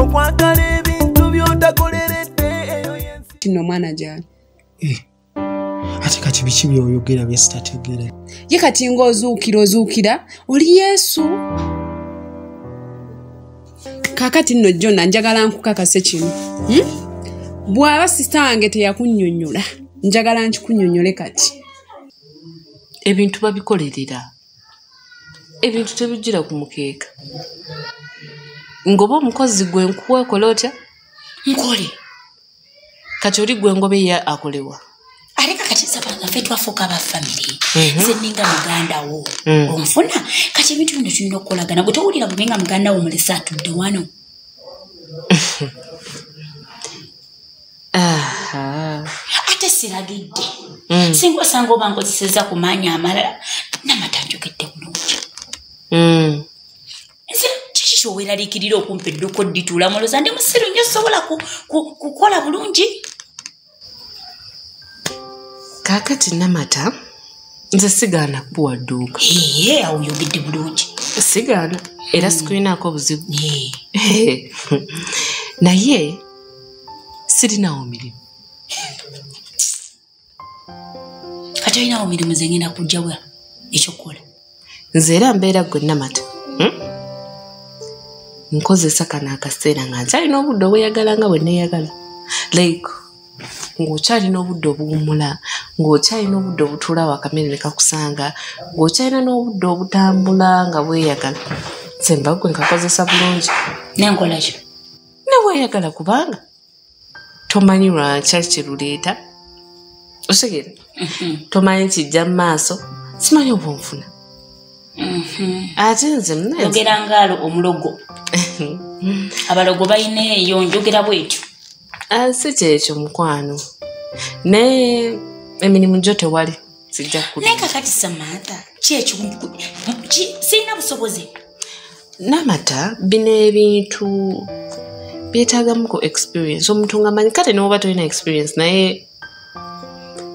okwagala ebintu byotakoleredde eyo yensi kino omwana gyali eh, ate kati biki byoyogera byesitategere ye kati ngaozuukira ozuukira oli yesu kakati nno jona njagala nkukakase kino hmm? bw'aba sisita wange teyakunyonyola njagala nkikunyonyole kati ebintu babikolerera ebintu tebijjira ku mukeeka ngoba omukozi gwe nkuwa okola otya nkole kati oli gwe ngoba eya akolewa aleka kati sabangafe twafuuka aba famiry mhm. nze ninga muganda wo mm. onfuna kati ebintu bino tulina okukolagana gwe towulira bube nga muganda wo mulese atudde wano ate siragidde mm. singa osanga oba nkozeseza ku maanyi amalala namatanjogedde bulungi mm. nze kiki kyoweraliikirira okumpa edduko ddituula muloza ndi musiru nyo sobola kukola bulungi kakati namata nze sigaana kuwa dduuka eye awo yogedde bulungi sigaana era mm. sikulinaako obuzibu naye sirinawo mirimu kati olinawo mirimu ze ngenda kujjawa ekyokukola nze era mbeera gwe namata hmm? nkozesa kano akaseera nga nkyalina obudde obweyagala nga bwe neeyagala like ng'okyalina obudde obuwumula ng'okyalina obudde obutuula wakamere ne kakusanga ng'okyalina n'obudde obutambula nga bweyagala semba gwe nkakozesa bulungi nenkolakyo ne weyagala kubanga tomanyi lwankya kyeruleeta osegera mhm. tomanyi kijja mu maaso simanyi oba onfuna mhm. ate nze ogera ngaalo omulogo abalogo balina eyo njogera bwetyo ah, si kyekyo mukwano naye emirimu gyo tewali sijja naye kakati samantha kyekyo sirina busobozi namata bino ebintu byetagamu ku experience omuntu nga manyi kate newoba tolina experience naye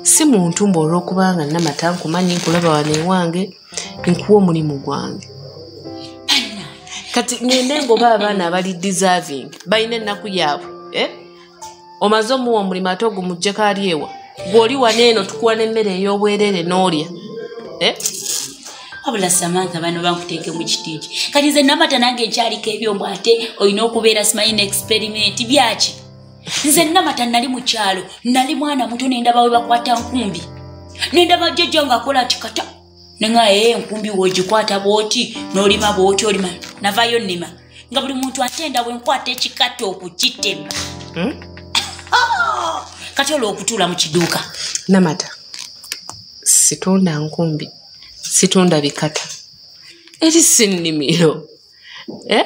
si muntu mba olwokubanga namata nkumanyi nkulaba wano ewange nkuwa omulimu gwange kati ngende ngoba abaana abali deserving balina ennaku yaabwe eh? omaze omuwa omulimu ate ogumujjeko ali ewa gweoli wana eno tukuwa n'emmere ey'obwerere n'olya eh? wabula samantha bano bankuteeke mu kitiiki kati nze namata nange nkyaliko ebyombo ate olina okubeera simanyi ne experiment byaki nze namata nali mu kyalo nali mwana muto nendabawe bakwata nkumbi nendaba jjajja ng'akola ti kata nenga ee eh, enkumbi wogikwata bwoti nolima bwoti olima navayo nima nga buli muntu atenda wenkwata ekikata okukitema hmm? ah! kati olwo okutuula mu kiduuka namata situnda nkumbi situnda bikata eri sinimiro eh?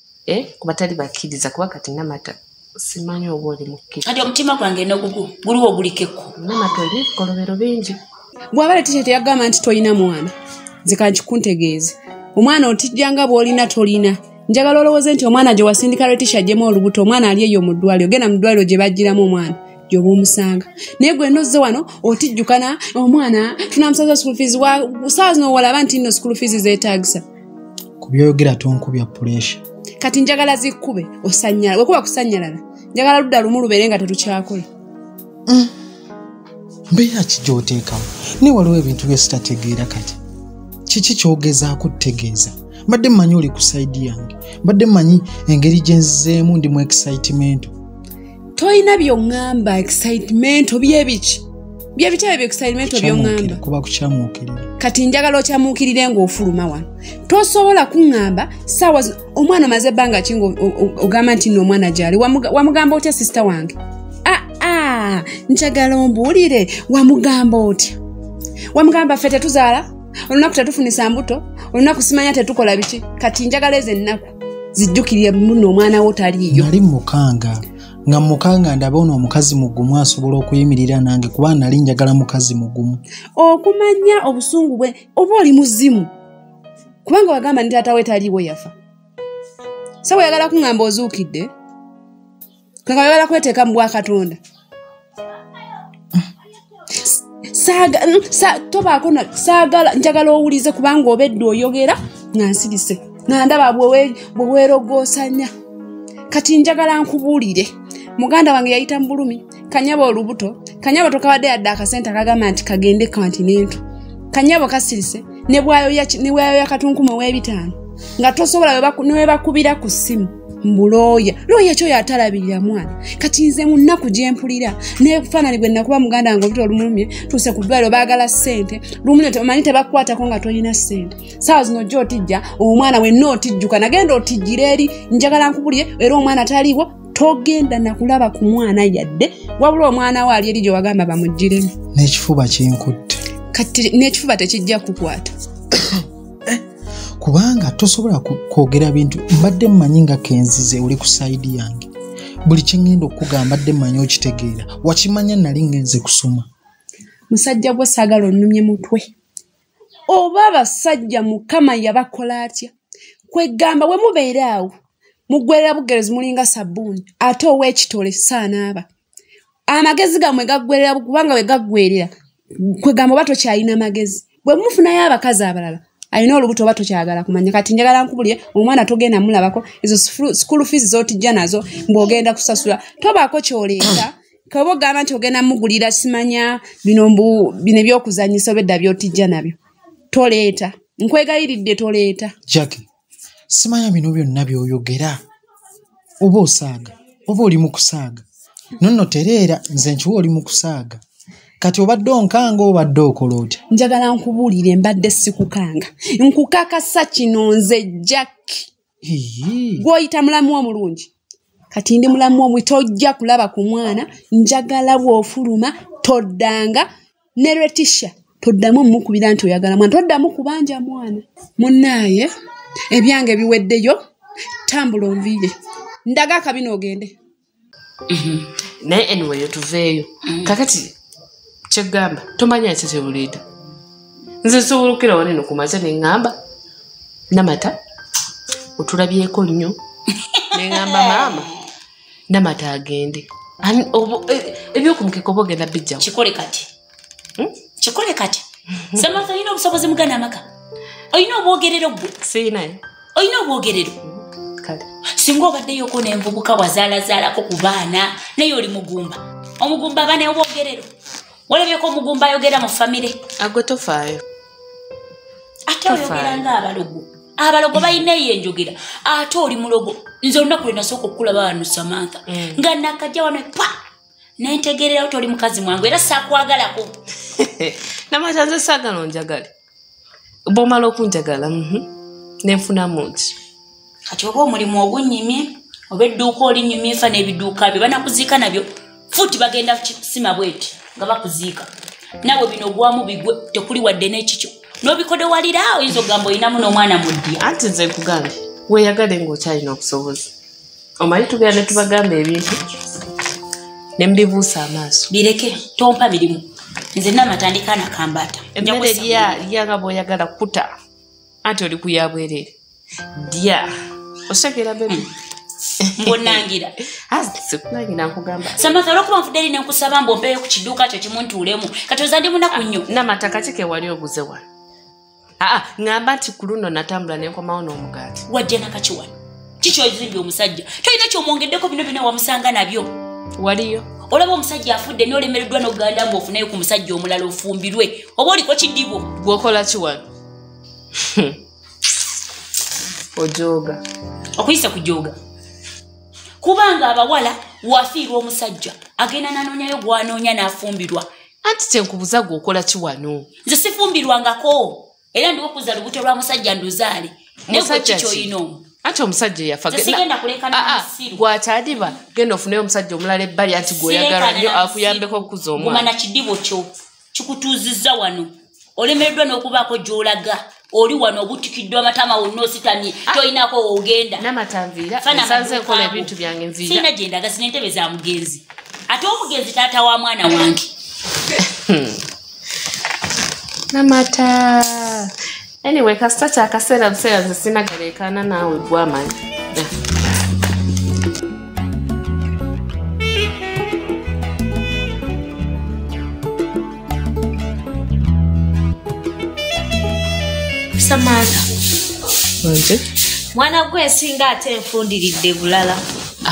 eh, ku batali bakkiriza kuba kati namata simanyi oba oli mukkiriza kati omutima gwange nogugu guliwo ogulikeko namata oli kolobero bingi bwaba letisha teyagamba nti tolina mwana nzikankikuntegeeze omwana otijja nga bwolina tolina njagala olowooze nti omwana gye wasindika letisha ajjemu olubuto omwana ali eyo mu ddwaliro genda mu ddwaliro gye bajjiramu omwana gyoba omusanga naye gwe nozze wano otijjukana omwana tunamusaza school fees wa saawa zino walaba nti nno school fees zeetaagisa ku byoyogera tonkubya puresha kati njagala zikube osanyala wekuba kusanyalala njagala ludda lumu lubeere nga tetukyakola mm. mbeera ki gyoteekawo naye waliwo ebintu byesitategeera kati kiki kyogezaako tutegeeza mbadde mmanyi oli ku saidi yange mbadde mmanyi engeri gyenzizeemu ndi mu excitemento tolina byoŋŋamba excitement obyebiki byebitya ebyo excitement byoŋŋamba kuba kukyamuukirira kati njagala okyamuukirire ng'ofuluma wano tosobola kuŋŋamba saawa omwana omaze ebbanga ki nga ogamba nti nno omwana gyali wamugamba otya sisita wange aa ah, ah, njagala ombuulire wamugamba otya wamugamba ffe tetuzaala olunaku tetufunisa mbuto olunaku simanya tetukola biki kati njagala ezo ennaku zijjukirire muno omwana wo taliiyo nali mukanga nga mukanga ndaba ono omukazi mugumu asobola okuyimirira nange kuba nali njagala mukazi mugumu okumanya obusungu bwe oba oli muzimu kubanga wagamba nti taata we taliiwo yafa sawa oyagala kuŋŋamba ozuukidde kaka bebala kweteeka mu bwakatonda tobaako saagala njagala owulize kubanga obedde oyogera nga nsirise nga ndaba bweweerogosanya kati njagala nkubuulire muganda wange yayita mu bulumi kanyabo olubuto kanyabo tokabadde yadde akasente akagamba nti kagende kantinento kanyabo kasirise nebwayoya katunkumu ow'ebitaano nga tosobola newebakubira ku ssimu mbu looya looya kyoyo atalabirira mwana kati nze mu nnaku gye mpulira nefaanani gwe nakuba muganda wange obita olumulumye tuuse ku ddwaliro baagala ssente lumulyo omanyi tebakukwatako nga tolina ssente saawa zino ojja otijja omwana wenna otijjuka nagenda otijjira eri njagala nkubulire era omwana taliwo togenda nakulaba ku mwana yadde wabula omwana we ali eri gye wagamba bamugiremu n'ekifuba kinkutte kati n'ekifuba tekijja kukwata eh, kubanga tosobola kwogera bintu mbadde mmanyi nga kenzize oli ku sayidi yange buli kyeŋŋenda okukugamba mbadde mmanyi okitegeera wakimanya nali ŋŋenze kusoma musajja gwe saagala onnumye mutwe oba abasajja mukama yabakola atya kwegamba we mubeere awo mugwerera bugerezi mulinga sabbuuni ate ow'ekitole saanaaba amagezi gamwe gaggwerera kubanga bwe gaggwerera kwegamba oba tokyalina magezi bwe mufunayo abakazi abalala alina olubuto oba tokyagala kumanya kati njagala nkubulire omwana togenda mulabako ezo school fees zotijja nazo ng'ogenda kusasula tobaako kyoleeta kaba ogamba nti ogenda mugulira simanya bino mbu bino ebyokuzanyisa obedda byotijja nabyo toleeta nkwegayiridde toleeta jacki simanya bino byonna byoyogera oba osaaga oba oli mu kusaaga nonno tereera nze nkiwa oli mu kusaaga kati obadde onkanga obadde okola otya njagala nkubuulire mbadde sikukanga nkukakasa kino nze jack gwoyita mulamu omulungi kati ndi mulamu omwi tojja kulaba ku mwana njagala bwofuluma toddanga ne retisha toddamu omukubira nti oyagala mwana toddamu kubanja mwana munaaye ebyange biweddeyo tambula onviire ndaga akabina ogende mhm. naye anyway otuveeyo mhm. kakati kyegamba tomanya nsi kyebuleeta nze nsobola okukira waneno ku maca neŋŋamba namata otulabyeko nnyo neŋŋamba maama namata agende e, ebyokumukeka oba ogenda bijja kikole kati hmm? kikole kati samaka olina obusobozi mugana amaka olina obwogerero gwe siinaye olina obwogerero kale singa obaddeyo ko nenvubuka wazaalazaalako ku baana naye oli mugumba omugumba abaana obwogerero walabyeko omugumba ayogera mu famire agwe tofaayo ate oyogera nga abalogo abalogo balina eyo enjogera ate oli mulogo nze olunaku lwe nasooka okukulaba wano samantha mm. nga nakajja wano pa nentegererawo toli mukazi mwangu era sakwagalako namatanze sagala onjagale bwomala okunjagala mhm, nenfunamu ki kati oba omulimu ogunyimye oba edduuka olinyumye nfa n'ebiduuka byo banakuziika nabyo futi bagenda kusima bweti nga bakuziika nawe bino gwamu bigwe tekuli wadde n'ekikyo n'obikodewalira oyinza okugamba olinamu n'omwana muddi anti nze nkugambye weyagale ng'okyalina okusoboza omanyi tugera ne tubagamba ebintu ne mubibuusa amaaso bireke tompa mirimu nze namatandika nakambaata emmere lya lya nga bwoyagala kuta anti oli kuyabwerere dya osekera bebi hmm. mbonangira sikunangira nkugamba samatha olwokuba nvudde eri nenkusaba mbu ompeeyo ku kiduuka kyo kimu ntuulemu kati oza ndi munaku nnyo namataka kikewali oguze wano aa ŋamba nti ku luno natambula nenkomawo n'omugaati wajja nakaki wano kikyozimbye omusajja tolina kyomwongeddeko bino byona wamusanga nabyo waliyo olaba omusajja afudde nolemereddwa nokuganda mbu ofunayo ku musajja omulala ofumbirwe oba oliko kidibo gwokola ki wano ojooga okuyisa kujooga kubanga abawala wafiirwa omusajja agenda nanoonyayo gwanoonya n'afumbirwa anti kyenkubuza gwe okola ki wano nze sifumbirwangako era ndiwo kuza lubuto lwa musajja nduzaale nekikyoyina omu anti omusajja eyafagwatadiba ah, ah, genda ofuneyo omusajja omulala ebbali anti gweoyagala nyo akuyambeko okukuza omwana kidibo kyo kikutuuzizza wano olemereddwa n'okubaako gy'olaga oli wano obutikiddwa amatama wonna ositamye ah. tolinako woogenda sirina gyendaga sina entebe za mugenzi ate omugenzi taata wa mwana wange namata anyway kasita kyakaseera buseera zesinagaleekaana naawe gwamanyi samantha mwana gwe nsinga ate nfundiridde bulala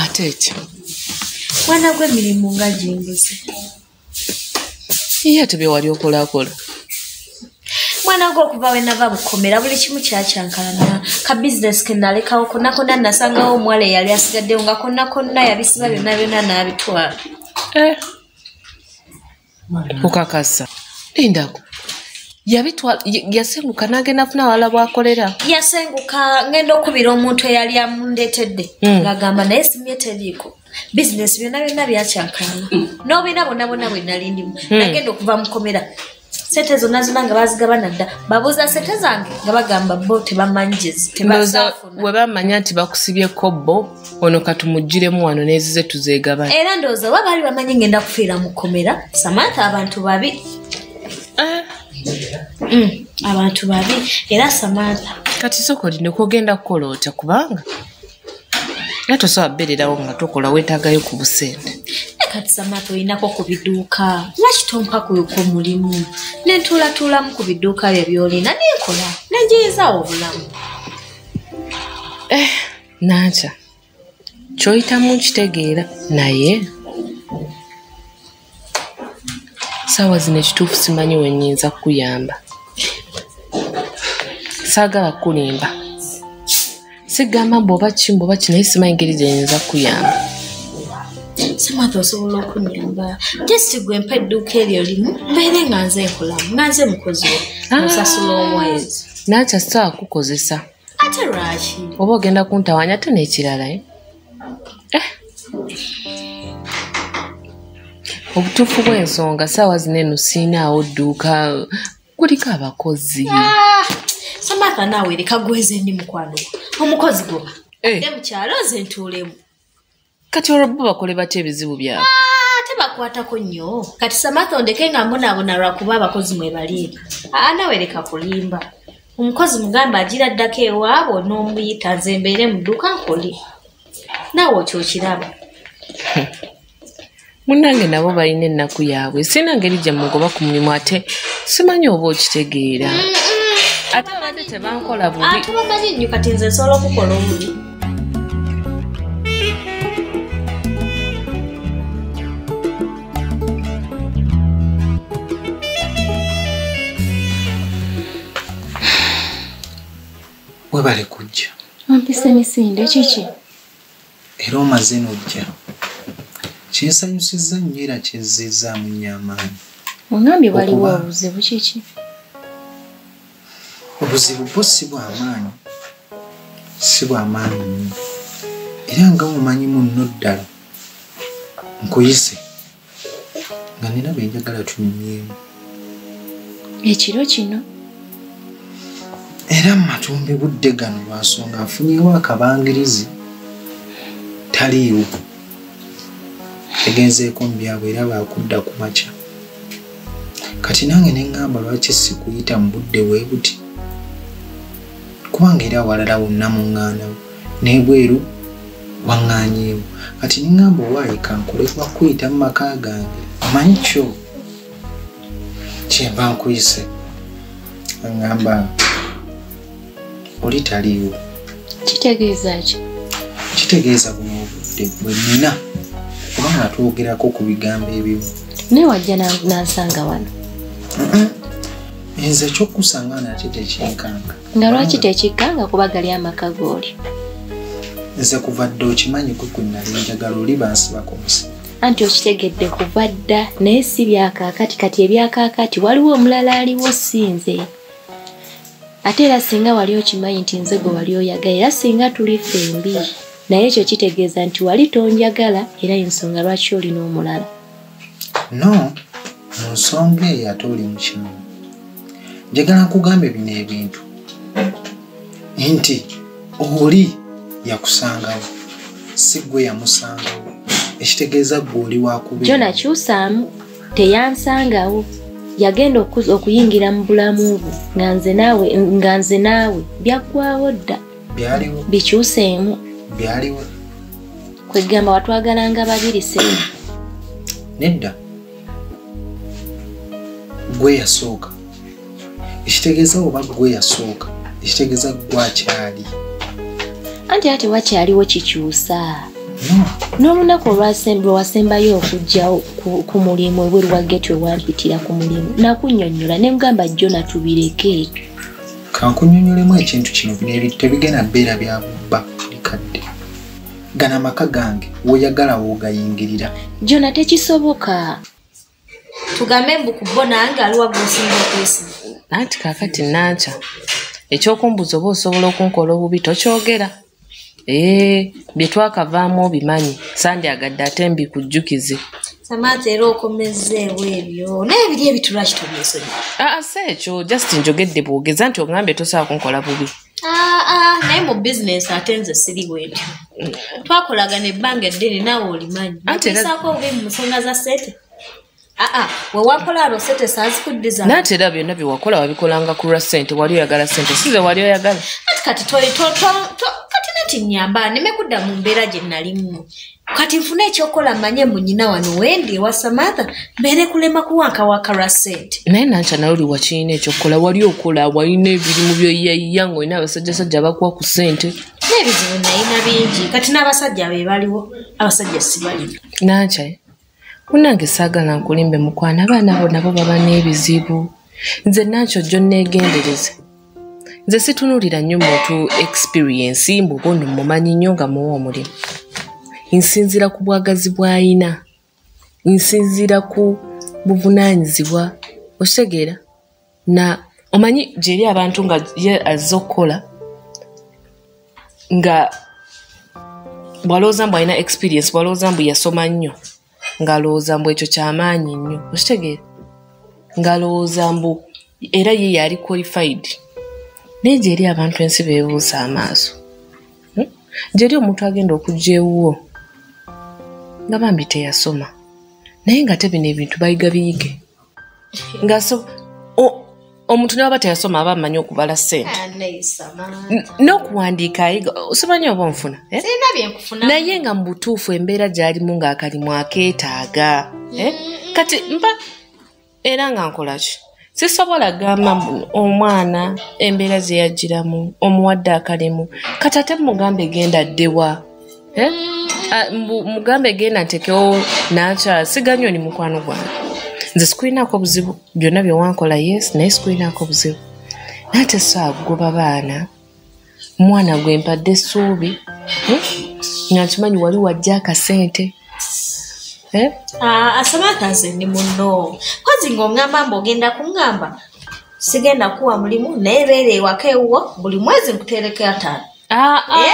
ate ekyo mwana gwe mirimu nga gimbuze iye ate byewali okolakola mwana gwe okuva wenava bukomera buli kimu kyakyankalana ka bizinesi kenalekawo konna konna nasangawo omuwala eyali asigaddewo nga konna konna yabisiba byonna byonna n'abitwala eh. okakasa lindako yabitwala yasenguka nagenda funa awala bwakolera yasenguka ngenda okubira omuntu eyali amundeetedde hmm. ngagamba naye simye teriiko bizinesi byonna byonna byakyakana mm. n'obiina bonna bonna bwe nali ndimu hmm. nagenda okuva mukomera sente zonna zonna nga bazigabana dda babuuza sente zange nga bagamba bo tebamanyiwebamanya nti bakusibye kobbo ono katumugiremu wano nezize tuzegabana era ndowooza oba baali bamanyi ngenda kufiira mukomera samantha abantu babi ah. mm, abantu babi era samantha kati soka olina okugenda kukola otya kubanga era tosobola kubeererawo nga tokola weetaagayo ku busente kati samata olinako ku biduuka lwaki tompakuuka omulimu nentuulatuulamu ku biduuka byo byolina nenkola nenjeyezaawo obulamu eh, nankya kyoyitamu nkitegeera naye saawa zino ekituufu simanyi wenyinza kukuyamba saagala kukulimba sigamba mbu oba ki mbu oba ki naye simanyi ngeri gyenyinza kukuyamba samata osobola okunyamba just gwe mpa edduuka eryo limu mbeere nga nze nkolamu nga nze mukozi we ah. musasula omwezi naakya sitaakukozesa ate lwaki oba ogenda kuntawanya ate n'ekirala eh? Eh. obutuufu bw'ensonga saawa zino eno siinaawo dduuka kuliko abakozi ah, samatha naawe leka gweze ndi mukwano omukozi goba eh. adde mukyalo nze ntuulemu kati olwo bo bakole batya ebizibu byabwe ah, tebakwatako nnyo kati samatha ondeke nga mbonaabona lwakuba abakozi mwebaliika ah, naawe leka kulimba omukozi mugambe agira addako ewaabwe n'omuyita nze mbeere mu dduka nkole naawe oky okiraba munange nabo balina ennaku yaabwe sirina ngeri gye mugoba ku mulimu ate simanyi oba okitegeera ate abadde tebankola bubi ate bamanyi nnyo kati nze nsobola okukola omulimu webale kujja wampisa emisinde kiki era omaze nojja kyesanyusiza nnyo era kyezzizaamu nnyo amaanyi ongambye waliwo obuzibu kiki obuzibu bwo si bwamaanyi si bwamaanyi nnyo era nga mumanyi munno ddala nkuyise nga nina byenjagala tunyumyemu ekiro kino era mumatumbi budde gano lwansonga nfunyewo akabangirizi taliiwo egenzeeko mu byabwe era baakudda ku makya kati nange neŋŋamba lwaki sikuyita mu budde bwe buti kubanga era awalala wonna muŋŋaanawo n'ebweru waŋŋaanyeemu kati neŋŋamba owaayika nkole kuba kuyita mu maka gange omanyi kyo kyenva nkuyise aŋŋamba oli taliiwo kitegeeza ki kitegeeza buno obudde bwe nina kuba nga twogerako ku bigambo ebimu naye wajja nansanga wano nze ekyokusanga nate tekyenkanga nga lwaki tekikkanga kuba gali amaka gooli nze kuva dda okimanyi kwe kwe nali njagala oli bansibako musi anti okitegedde kuva dda naye si byakaakati kati ebyakaakati waliwo omulala aliwo si nze ate era singa wali okimanyi nti nze gwe wali oyagala era singa tuli fembi naye ekyo kitegeeza nti wali tonjagala era ensonga lwaki olina omulala no mu nsonga eyo ate oli mukimu njagala nkugambe bino ebintu nti oli yakusangawo si gwe yamusangawo ekitegeeza gwe oli wakubyona kyusaamu teyansangawo yagenda okuza okuyingira mu bulamu bwo nga nze naawe nga nze naawe byaggwawo dda bikyuseemu kwegamba watwagalanga babiri se nedda gwe yasooka ekitegeeza oba gwe yasooka ekitegeeza gwakyali anti ate wakyaliwo kikyusa n'olunaku olwasembwa wasembayo okujja ku mulimu ebweru wa geti wewampitira ku mulimu nakunyonyola ne mugamba jjo natubireke kankunyonyolemu ekintu kino bino tebigenda beera bya bubba likadde gana amaka gange woyagala wogayingirira jona tekisoboka tugambe mbu ku bo nange aliwa gwosinga okwesiga anti kakati nankya ekyokumbuza oba osobola okunkola obubi tokyogera ee byetwakavaamu obimanyi sandi agadde ate mbikujjukize samaata era okomezeewo ebyo naye biri ebitulwaki tobyesonyi aa ah, ah, si ekyo just njogedde bwogeza nti ogambye tosobola kunkola bubi Ah, ah, naye mu bizinensi ate nze siri bwentyo twakolagana ebbanga eddene naawe olimanyi natesaako obubi mu nsonga za sete aa ah, wewakola ano sete sazikuddiza naate era byonna byewakola wabikolanga kulwa sente wali oyagala sente size wali oyagala kati kati nati nyamba neme kudda mu mbeera gye nalimu kati nfune ekyokola manye munyina wano wendi ewa samatha mbere kulema kuwanka wakara sente naye nanca naye oli wakirina ekyokukola wali okola walina ebirimu byoyaiya nga olina abasajjasajja bakuwa ku sente nebizibu nayina bingi kati n'abasajja be baliwo abasajja sibalina nanca munange saagala nkulimbe mukwana abaana bo nabo baba n'ebizibu nze nankyo jjo nneegendereze nze situnulira nnyo muntu experience mbuba ono mumanyi nnyo nga muwa omulimu nsinzira ku bwagazi bw'ayina nsinzira ku buvunaanyizibwa osegeera na omanyi gyeri abantu nga ye azze okukola nga bwalowooza mbu alina experience bwalowooza mbu yasoma nnyo ng'alowooza mbu ekyo kyamaanyi nnyo okitegeera ng'alowooza mbu era ye yali qualified naye gyeri abantu ensi bebuusa amaaso hmm? gyeri omuntu agenda okujja ewuwo nga bambi teyasoma naye nga te bino ebintu bayiga biyige ngaso omuntu ne waba teyasoma aba amanyi okubala sente ah, n'okuwandiika ayiga simanyi oba onfuna eh? naye nga mu butuufu embeera gyalimu ng'akalimu akeetaaga eh? mm-hmm. kati mba era nga nkolaki sisobola gamba omwana embeera zeyagiramu omuwadde akalimu kati ate mugamba egenda ddewa Eh? Ah, mbu- mugambe genda ntekewo nakyala siganyo ni mukwano gwange nze sikulinaako buzibu byonna byewankola yes naye sikulinaako buzibu naye tesakugoba baana mwana gwe mpadde essuubi Hmm? nga nkimanyi wali wajja akasente Eh? Ah, asamata nze ndi muno kozi ng'ongamba mbu ogenda kuŋŋamba sigenda kuwa mulimu naye beera ewaka ewuwo buli mwezi nkuteereko ataano Ah, ah. Eh?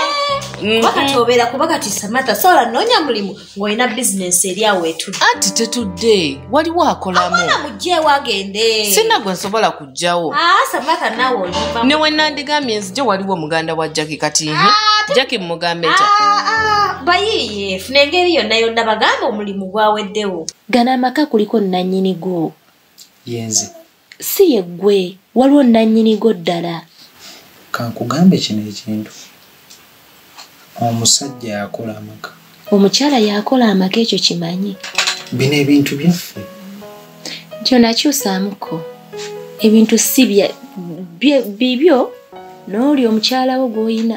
Mm-hmm. kuba kati obeera kuba kati samata sola noonya mulimu ng'olina bizinensi eri awo etudde anti tetudde waliwo akolamuana mugjewo agende sina gwe nsobola kujjawo ah, samata nawe olimba ne wenandigambye nzije waliwo muganda wa jaki kati nhi jaki mumugambe ta bayiiye funa engeri yonna yonna bagamba omulimu gwaweddewo gana amaka kuliko nanyini gwo yenze si ye ggwe waliwo nnannyinigo ddala kankugambe kino ekintu omusajja yakola amaka omukyala yakola amaka ekyo kimanyi bino ebintu byaffe kyonakyusaamuko ebintu si bibyo n'oli omukyalawo gw'olina